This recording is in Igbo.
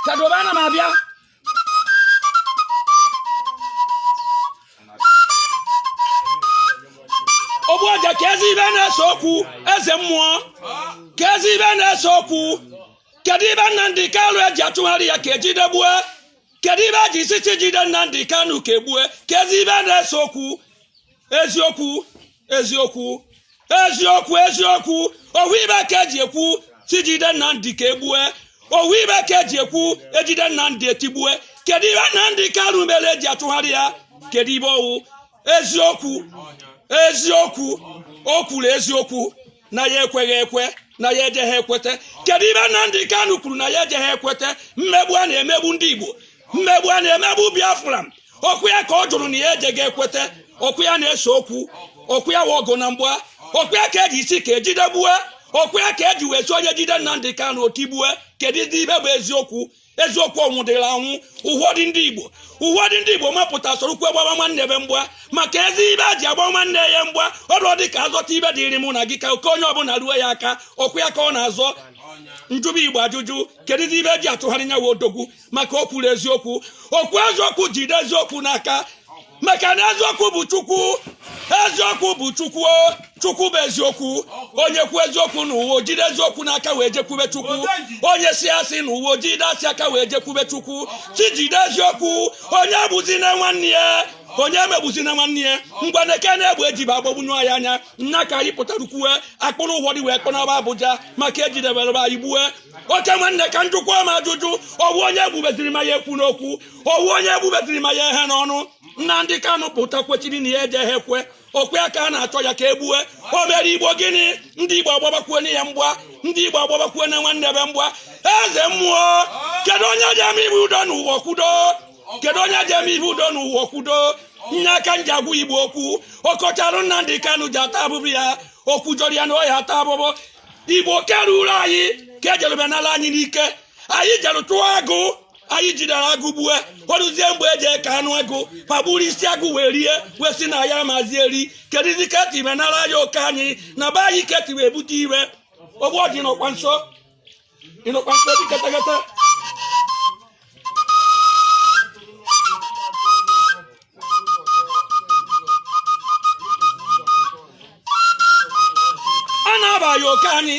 Chadoma na m abịa ogbu ọja kezi ibe na-ese okwu eze mmụọ kezi ibe na-ese okwu kedu ibe Nnamdi Kanu eji atụgharị ya ka ejidegbue kedu ibe eji isi sị jide Nnamdi Kanu ka egbue kezi ibe na-ese okwu eziokwu eziokwu eziokwu eziokwu ọwụ ibe ka eji ekwu sị jide Nnamdi ka egbue ọwụ ibe ka eji ekwu ejide Nnamdi etigbue kedu ibe Nnamdi Kanu mere eji atụgharị ya kedu ibe ọwụ eziokwu eziokwu o kwuru eziokwu na ya ekweghị ekwe na ya ejeghị ekwete kedu ibe Nnamdi Kanu kwuru na ya ejeghị ekwete mmegbu a na-emegbu ndị Igbo mmegbu a na-emegbu Biafra okwu ya ka ọ jụrụ na ya ejeghị ekwete okwu ya na-ese okwu okwu ya wa ọgụ na mgba okwu ya ka eji isi ka ejide gbue okwu ya ka eji wee sị onye jide Nnamdi Kanu otigbue kedu ibe bụ eziokwu eziokwu ọnwụ dịrị anwụ ụfọdụ ndị igbo ụfọdụ ndị igbo mapụta sorokwu gbaba nwanne be mgba ma kezi ibe eji agba nwanne ya mgba ọrụ dị ka azọta ibe dịrị mụ na gị ka oke onye ọbụla ruo ya aka okwu ya ka ọ na-azọ njụba igbo ajụjụ kedụzi ibe eji atụgharị nyawa odogwu maka o kwuru eziokwu o kwuru eziokwu jide eziokwu n'aka maka na eziokwu bụ chukwu eziokwu bụ chukwu chukwu bụ eziokwu onye kwu eziokwu n'ụwa ojide eziokwu n'aka wee jekwube chukwu onye si asị n'ụwa ojide asị aka wee jekwube chukwu sị jide eziokwu onye egbuzina nwanne ya onye emegbuzina nwanne ya ngwa na eke na-egbu ejibe agbagbunye anyị anya nna ka anyị pụtara kwue akpụrụ ụfọdụ wee kpọnaba abuja maka ejidebere anyị gbue oke nwanne ka njụkwa ma ajụjụ ọwụ onye egbubeziri ma ya ekwuna okwu ọwụ onye egbubeziri ma ya ehena ọnụ Nnamdi Kanu pụta kwechiri na ya ejeghị ekwe okwu ya ka a na-achọ ya ka e gbue o mere igbo gịnị ndị igbo agbabakwuo na ya mgba ndị igbo agbabakwuo na nwanne be mgba eze mmụọ kedu onye ji eme ibe udo n'ụwa kwudo kedu onye ji eme ibe udo n'ụwa kwudo nye aka nji agwa igbo okwu ọkọcharụ Nnamdi Kanu ji ata abụbụ ya okwu jọrọ ya na ọya ata abụbụ igbo keruru anyị ka ejerube n'ala anyị n'ike anyị jere tụọ agụ anyị jidere agụ gbue oruzie mgbe eji eke anụ agụ ma gburu isi agụ wee rie wee sị na ya amazi eri kedụzi ka eti wee nara anyị oke anyị na be anyị ka eti wee bute iwe ogbu ọdị n'ọkwa nso ịnọkwa nso dị katakata a na-aba ya oke anyị